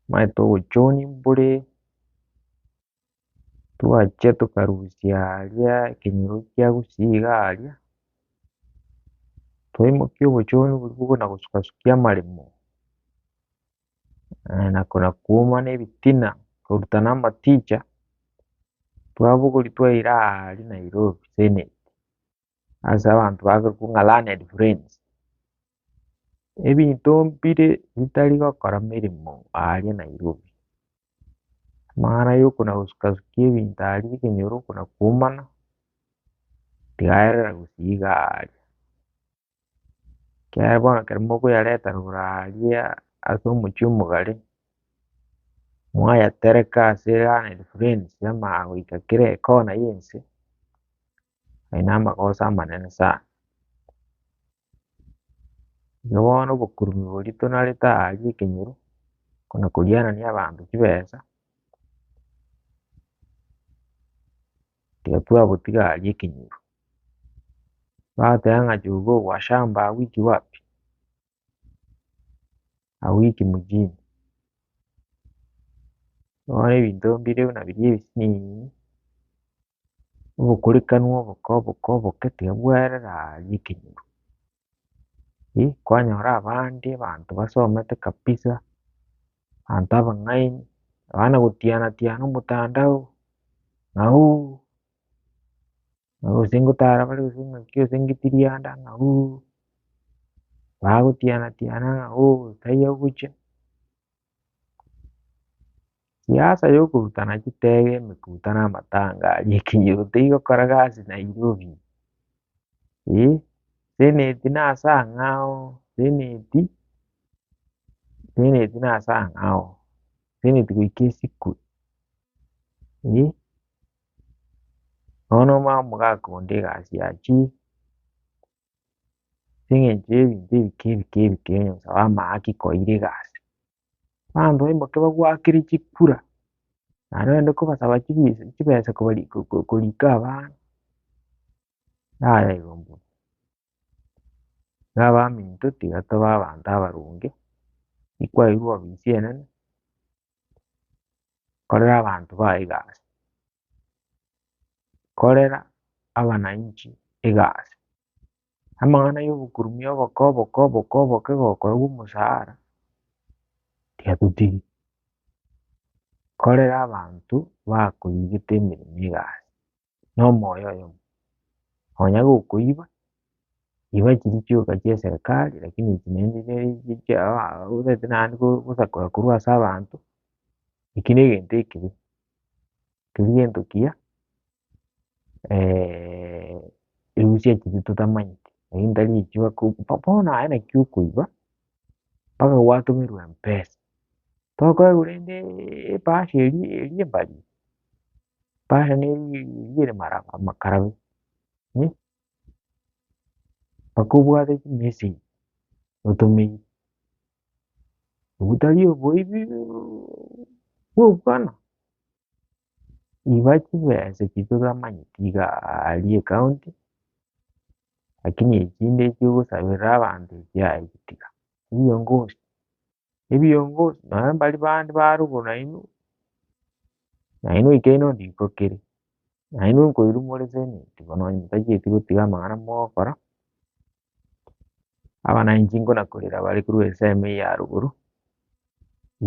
manye togochoonia mbore, twachia tokarusia aria ekenyoro kia gusii iga aria, twaimokia obochooni boria bobe na gosukasukia amaremo, nako na kwoma na ebitina, korutana amaticha, twabogoria twaira aria Nairobi seneti. ase abanto bakorokwa ng'a learned friends, ebinto mbire bitari gokora emeremo aaria Nairobi. Amang'ana ya okona gosuka sukia ebinto aaria ekenyoro okona kwomana, tigaerera gosii iga aaria. Ekiagera bono ekero mokoyareta rogoro aaria ase omochie omogare, mwayatereka ase learned friends amaagoika kera ekona y'ense, Aye namagoso amanene sana. Igo bono obokurubi boria tonanerete aa aria ekenyoro, kona koriarania abanto chibesa, tiga twabotiga aria ekenyoro. Bagoteba ng'a jogoo wa shamba awiki wapi? Awiki mjini. Bono ebinto mbire buna biria ebisiniini. obokurekanu oboke oboke oboke tiga bwerere aa nyekenyoro. Ih kwanyora abande abanto basomete kabisa, abanto abang'aini, abana gotiana tiana omotandao, ng'auu, gose ngotara bare gose ng'aki gose ng'iti rianda ng'auu, bagotiana tiana ng'auu, taiyo ogocha. Siasa yokorutana chitege, emekuta na amatanga aria ekenyoro tigokora gasi Nairobi. Eh, seneti na ase ang'e ao, seneti, seneti na ase ang'e ao, seneti goika esikwe, eh. Bono omanye omogaaka onde egasi ya chief. ase eng'encho y'ebinto ebike ebike ebike onye gosa bamahaki koira egasi. Abanto baimoke bagwakere chikura, naende ogende kobasaba chibisa chibesa kobari ko ko korika abana, nayaigo mbuya. Iga abaminto tiga toba abanto abaronge, tikwairwa ofisi enene, korera abanto bago egasi. korera abananchi egasi. Amang'ana y'obokurubi oboke oboke oboke oboke gokorerwa omosaara tiatotigi, korera abanto bakoigete emeremo egasi na omoyo oyomo. Nonya gokoiba, iba chiria chioka chia eserekari lakini echi naende otagete naende gosakora korwa ase abanto, eki negento ekibe. keria gento kiya erusia chiria totamanyeti erio ntarigochia gokumia bono aye naki okoiba mpaka gwatomerwa empesa tokoegwa rende ebahasha eria eria embarie ebahasha ne eria ere mara amakarabe mpaka obwate chimessage otomeire. Ogotari oboibi bw'okwana, iba chibesa echio toramanyeti iga aria ekaonti, lakini echinde echio ogosaberera abanto echi aye gotiga, ebiongozi, ebiongozi nonya mbari bande ba rugoro nainwe, nainwe oikaine onde iko kere, nainwe nkoirwa more seneti bono onye motacheti gotiga amang'ana mogokora. abananchi nkonakorera bare korwa ensemo eye ya rogoro,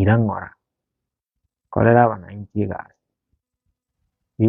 ira ng'ora, korera abananchi egasi, pi.